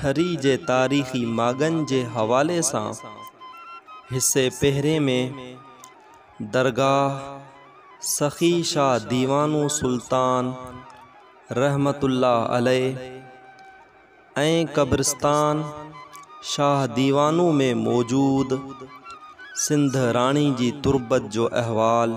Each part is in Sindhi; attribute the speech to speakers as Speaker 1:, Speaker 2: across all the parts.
Speaker 1: ٿري جي تاريخي ماڳن جي حوالي سان حصي پهرين ۾ درگاهه سخي شاهه ديوانو سلطان رحمت الله عليه ۽ قبرستان شاهه ديوانو ۾ موجود سنڌ راڻي جي تربت جو احوال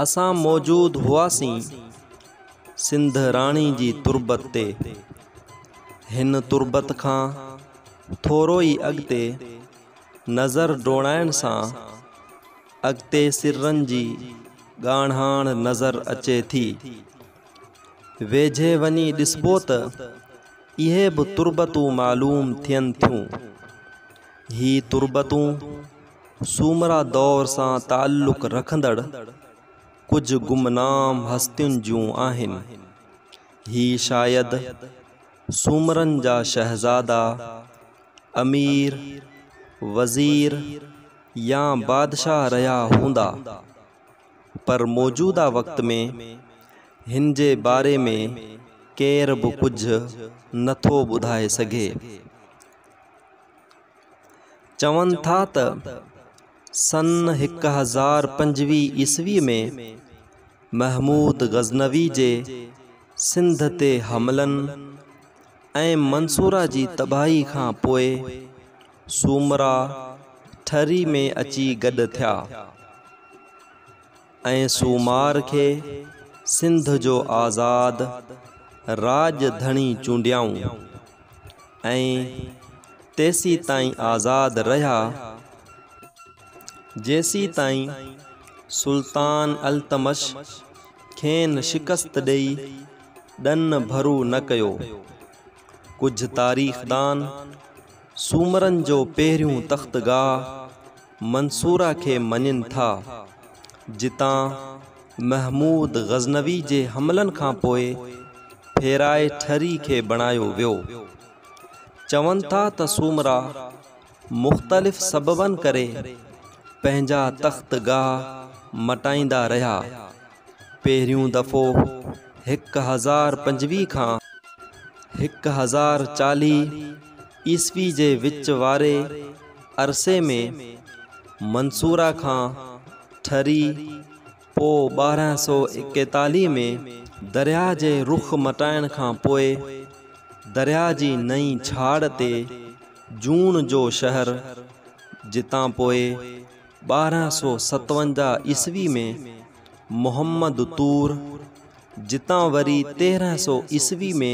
Speaker 1: اسان موجود هئاسين سنڌ راڻي جي تربت تي. هن تربت کان ٿورو ئي اڳتي نظر ڊوڙائڻ سان اڳتي سرن جي ڳاڙهاڻ نظر اچي ٿي. ويجهي وڃي ڏسبو ته اهي به تربتون معلوم ٿين ٿيون. هي تربتون سومرا دور سان تعلق رکندڙ ڪجهه گمنام هستين جون آهن. هي شايد سومرن جا شهزادا، امير، وزير يا بادشاهه رهيا هوندا. پر موجوده وقت ۾ هن جي باري ۾ ڪير به ڪجهه نٿو ٻڌائي سگهي. چون ٿا ته سن هڪ هزار پنجويهه عيسوي ۾ محمود غزنوي جي سنڌ تي حملن ۽ منصوره جي تباهي کان پوء سومرا ٺري ۾ اچي گڏ ٿيا. ۽ سومار کي سنڌ جو آزاد راڄ ڌڻي چونڊيائون ۽ تيسيتائين آزاد رهيا جيسيتائين سلطان التمش کين شڪست ڏئي ڏن ڀرو نه ڪيو. ڪجهه تاريخدان سومرن جو پهريون تختگاهه منصوره کي مڃين ٿا، جتان محمود غزنوي جي حملن کان پوء ڦيرائي ٺري کي بڻايو ويو. چون ٿا ته سومرا مختلف سببن ڪري پنهنجا تخت گاهه مٽائيندا رهيا. پهريون دفعو هڪ هزار پنجويهه کان هڪ هزار چاليهه عيسوي جي وچ واري عرصي ۾ منصوره کان ٺري پوء ٻارهن سؤ ايڪيتاليهه ۾ درياهه جي رخ مٽائڻ کان پوء درياهه جي نئين ڇاڙ تي جون جو شهر جتان پوء ٻارهن سؤ ستونجاهه عيسوي ۾ محمد طور جتان وري تيرهن سؤ عيسوي ۾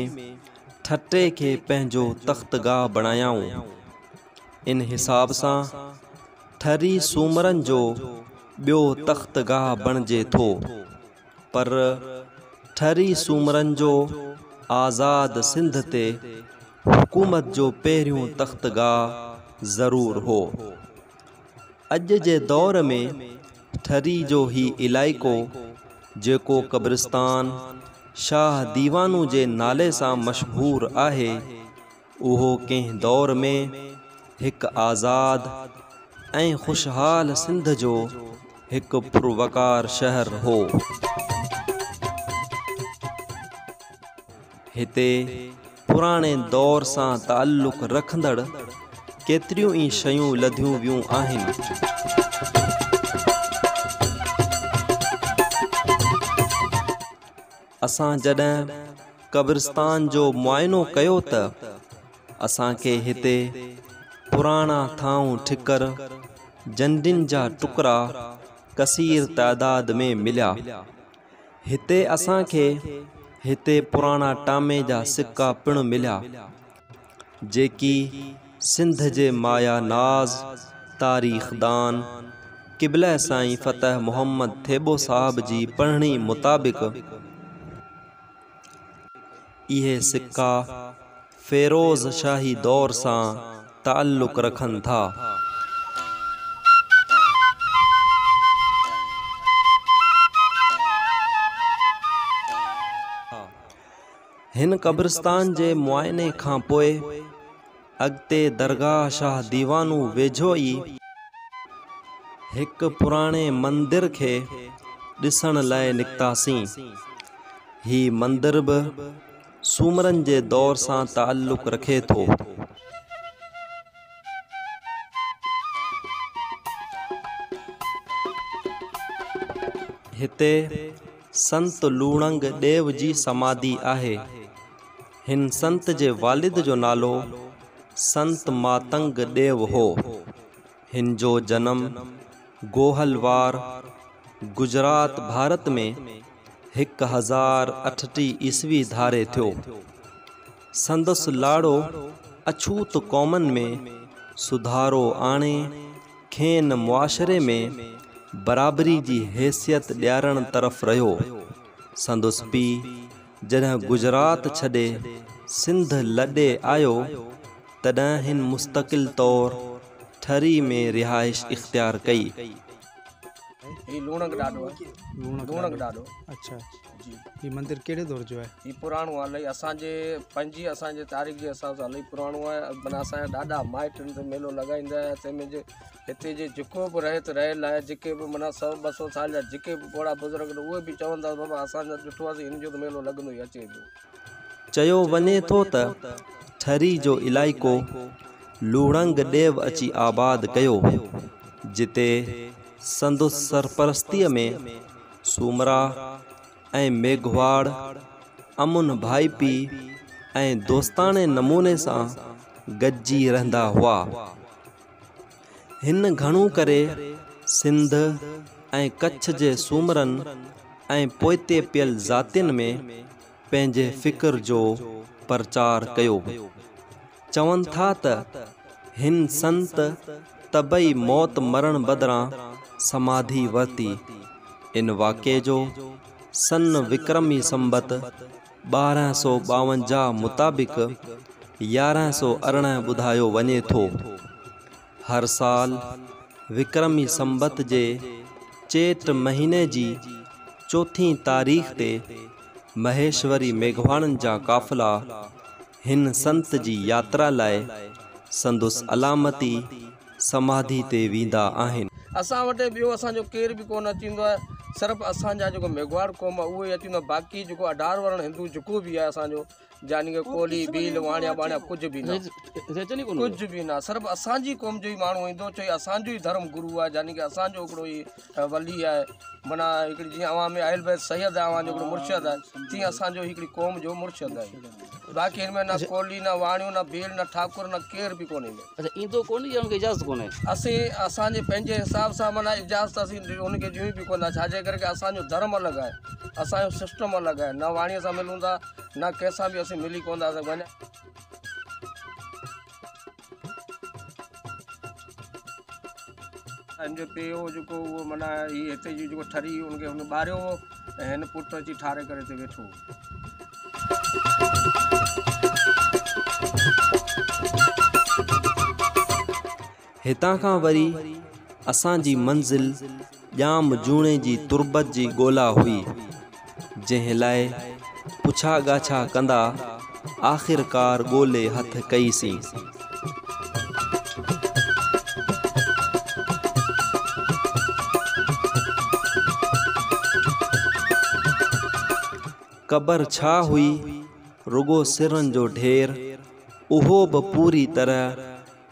Speaker 1: ٺٽي کي پنهنجو تختگاهه بڻايائون. ان حساب سان ٺري سومرن جو ٻيو تختگاهه بڻجي ٿو. پر ٺري سومرن جو آزاد سنڌ تي حڪومت جو پهريون تختگاهه ضرور هو. اڄ جي دور ۾ ٺري جو هي علائقو جيڪو قبرستان شاهه ديوانو جي نالي سان مشهور آهي اهو ڪنهن دور ۾ هڪ آزاد ۽ خوشحال سنڌ جو هڪ پروقار شهر هو. هتي پراڻي دور سان تعلق رکندڙ ڪيتريون ئي شيون لڌيون ويون آهن. اسان جڏهن قبرستان جو معائنو ڪيو ته اسان کي هتي پراڻا ٿانو ٺڪر، جنڊين جا ٽڪرا ڪثير تعداد ۾ مليا. هتي اسان کي هتي پراڻا ٽامي جا سڪا پڻ مليا، جيڪي سنڌ جي مايا ناز تاريخ دان قبله سائين فتح محمد ٿيٻو صاحب جي پڙهڻي مطابق اهي سڪا فيروز شاهي دور سان تعلق رکن ٿا. هن قبرستان جي معائني کان پوء اڳتي درگاهه شاهه ديوانو ويجهو ئي هڪ پراڻي مندر کي ڏسڻ لاء نڪتاسين. هي مندر به سومرن جي دور سان تعلق رکي ٿو. هتي سنت لوڻنگ ڏيو جي سماڌي آهي. هن سنت جي والد جو نالو سنت ماتنگ ڏيو هو. هن جو جنم گوهل وار، گجرات، ڀارت ۾ هڪ هزار اٺٽيهه عيسوي ڌاري ٿيو. سندس لاڙو اڇوت قومن ۾ سڌارو آڻي کين معاشري ۾ برابري جي حيثيت ڏيارڻ طرف رهيو. سندس پيء جڏهن گجرات ڇڏي سنڌ لڏي آيو، تڏهن هن مستقل طور ٺري ۾ رهائش اختيار ڪئي. هي
Speaker 2: لوڻڪ ڏاڏو آهي. لوڻڪ ڏاڏو.
Speaker 3: اڇا جي. هي مندر ڪهڙي دور جو آهي. هي پراڻو آهي الائي
Speaker 2: اسان جي پنهنجي اسان جي تاريخ جي حساب سان الائي پراڻو آهي معنيٰ اسان جا ڏاڏا مائٽ هن تي ميلو لڳائيندا هيا تنهن ۾ جي هتي جي جيڪو به رهت رهيل آهي جيڪي به معنيٰ سؤ ٻه سؤ سال جا جيڪي به پوڙها بزرگ آهن اهي به چون ٿا ته بابا اسان جڏهن ڏٺو آسين هن جو ته ميلو لڳندو ئي اچي پيو. چيو وڃي ٿو
Speaker 1: ته ٺري جو علائقو لوڙنگ ڏيو اچي آباد ڪيو جتي سندس سرپرستيء ۾ سومرا ۽ ميگهواڙ امن ڀائپي ۽ دوستاڻي نموني سان گڏجي رهندا هئا. هن گهڻو ڪري سنڌ ۽ ڪڇ جي سومرن ۽ پوئتي پيل ذاتين ۾ پنهنجي فڪر جو پرچار ڪيو. چون ٿا ته هن سنت طبعي موت مرڻ بدران سماڌي ورتي. ان واقعي جو سن وڪرمي سنبت ٻارهن سؤ ٻاونجاهه مطابق يارهن سؤ ارڙهن ٻڌايو وڃي ٿو. هر سال وڪرمي سنبت جي چيٽ مهيني جي چوٿين تاريخ تي مهيشوري ميگهواڻن جا قافلا هن سنت جي ياترا لاء سندس علامتي سماڌي تي ويندا آهن. اسان وٽ ٻيو
Speaker 2: اسان جو ڪير به ڪونه اچيندو آهي صرف اسان جا جيڪو ميگهواڙ قوم آهي اهو ئي اچيندو آهي باقي جيڪو اڍار ورڻ هندو جيڪو به آهي اسان جو يعني ڪي ڪولهي ڀيل واڻيا ٻاڻيا ڪجهه به نه ڪجهه به نه صرف اسان جي قوم جو ئي ماڻهو ايندو ڇو جو اسان جو ئي ڌرم گرو آهي يعني ڪي اسان جو هڪڙو ئي ته ولي آهي معنيٰ هڪڙي جيئن اوهان ۾ اهل بيت سيد آهي اوهان جو هڪڙو مرشد آهي تيئن اسان جو هڪڙي قوم جو مرشد آهي باقي هن ۾ نه ڪولي نه واڻيو نه ڀيل نه ٺاڪر نه ڪير به ڪونهي اچا ايندو ڪونهي يا
Speaker 3: ان کي اجازت ڪونهي اسين اسان جي
Speaker 2: پنهنجي حساب سان معنيٰ اجازت اسين ان کي ڏيون به ڪون ٿا ڇاجي ڪري ڪي اسان جو ڌرم الڳ آهي اسان جو سسٽم الڳ آهي نه واڻيو سان ملون ٿا نه ڪنهن سان به اسين ملي ڪون ٿا سگهون ان جو پيء هو جيڪو اهو معنيٰ هي هتي جي جيڪو ٺري ان کي هن ٻاريو هو ۽ هن پٽ اچي ٺاري ڪري هتي ويٺو
Speaker 1: هتان کان وري اسان جي منزل ڄام جوڻيجي تربت جي ڳولا هئي، جنهن لاء پڇا ڳاڇا ڪندا آخرڪار ڳولي هٿ ڪئي سين. قبر ڇا هئي رڳو سرن جو ڍير اهو به پوري طرح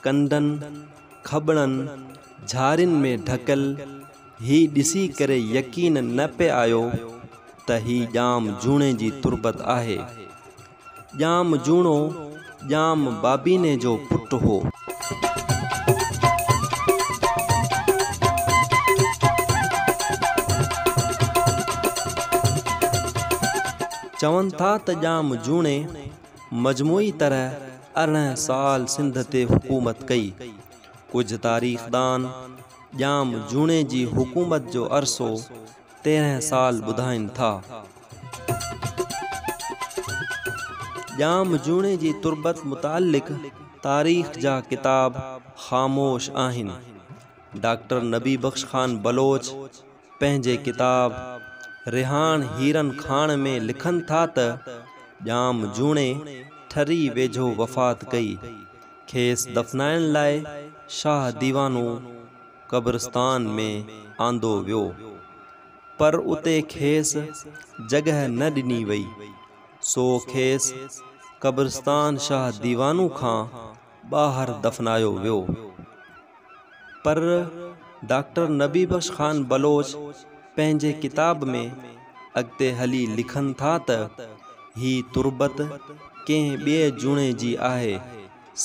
Speaker 1: ڪنڊن، کٻڙن، جھارين ۾ ڍڪيل ھي ڏسي ڪري يقين نه پئي آيو ته ھي ڄام جوڻي جي تربت آھي. ڄام جوڻو ڄام بابيني جو پٽ ھو. چون ٿا ته ڄام جوڻي مجموعي طرح ارڙهن سال سنڌ تي حڪومت ڪئي. ڪجهه تاريخدان ڄام جوڻي جي حڪومت جو عرصو تيرهن سال ٻڌائين ٿا. ڄام جوڻي جي تربت متعلق تاريخ جا ڪتاب خاموش آهن. ڊاڪٽر نبي بخش خان بلوچ پنهنجي ڪتاب رهاڻ هيرن کاڻ ۾ لکن ٿا ته ڄام جوڻي ٺري ويجهو وفات ڪئي. کيس دفنائڻ لاء شاهه ديوانو قبرستان ۾ آندو ويو پر اتي کيس جڳهه نه ڏني وئي سو کيس قبرستان شاهه ديوانو کان ٻاهر دفنايو ويو پر ڊاڪٽر نبي بخش خان بلوچ پنهنجي ڪتاب ۾ اڳتي هلي لکن ٿا ته هي تربت ڪنهن ٻئي جوڻي جي آهي،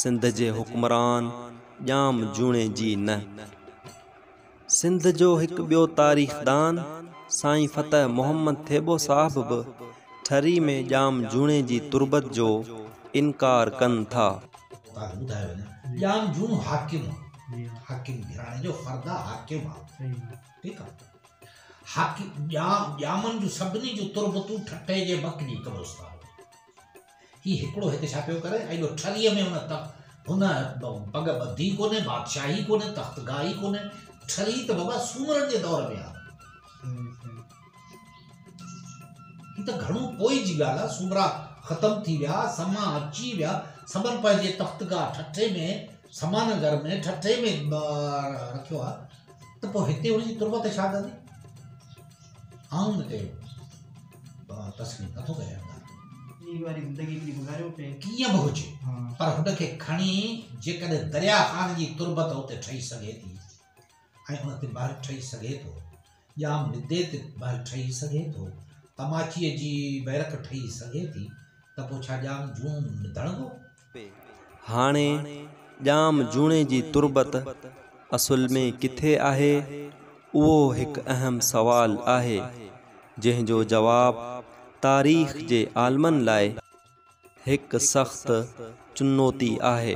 Speaker 1: سنڌ جي حڪمران ڄام جوڻي جي نه. سنڌ جو هڪ ٻيو تاريخدان سائين فتح محمد ٿيٻو صاحب به ٺري ۾ ڄام جوڻي جي تربت جو انڪار ڪن ٿا. اتان کي ٻڌايو وڃي ته ڄام
Speaker 4: جوڻو حاڪم هو. حاڪم گهراڻي جو فرد آ حاڪم آ. ٺيڪ آ. حاڪم ڄام ڄامن جون سڀني جون تربتون ٺٽي جي مڪني قبرستان ۾. هي هڪڙو هت ڇا پيو ڪري ايڏو ٺري ۾ هن تخت هن پڳ ٻڌي ڪونهي بادشاهي ڪونهي تخت گاهه ئي ڪونهي ٺري ته بابا سومرن جي دور ۾ آ هي ته گهڻو پوء جي ڳالهه آ سومرا ختم ٿي ويا سما اچي ويا سمن پنهنجي تخت گاهه ٺٺي ۾ سما نگر ۾ ٺٺي ۾ رکيو آ ته پوء هتي هن جي تربت ڇا ڪندي آئون ان کي تسليم نٿو ڪريان ڪيئن به هجي پر هن کي کڻي جيڪڏهن دريا خان جي تربت اتي ٺهي سگهي ٿي ۽ ان تي مهر ٺهي سگهي ٿو ڄام ندي تي مهر ٺهي سگهي ٿو تماچيء جي بيرڪ ٺهي سگهي ٿي ته پوء ڇا ڄام جون ڌڻبو
Speaker 1: هاڻي ڄام جوڻي جي تربت اصل ۾ ڪٿي آهي؟ اهو هڪ اهم سوال آهي، جنهن جو جواب تاريخ جي عالمن لاء هڪ سخت چنوتي آهي.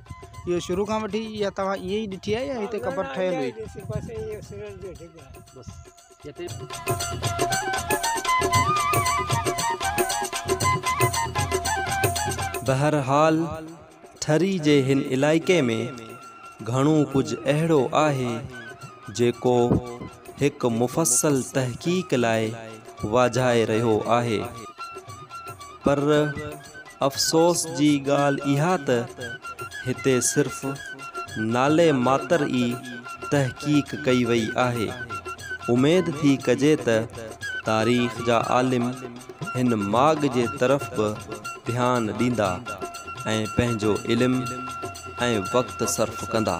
Speaker 3: اهو شروع کان وٺي يا توهان ائين ئي ڏٺي آهي يا هتي قبر ٺهيل هئي
Speaker 1: بهرحال ٺري جي هن علائقي ۾ گهڻو ڪجهه اهڙو آهي جيڪو هڪ مفصل تحقيق لاء واجهائي رهيو آهي. پر افسوس جي ڳالهه اها ته هتي صرف نالي ماتر ئي تحقيق ڪئي وئي آهي. اميد ٿي ڪجي ته تاريخ جا عالم هن ماڳ جي طرف به ڌيان ڏيندا ۽ پنهنجو علم ۽ وقت صرف ڪندا.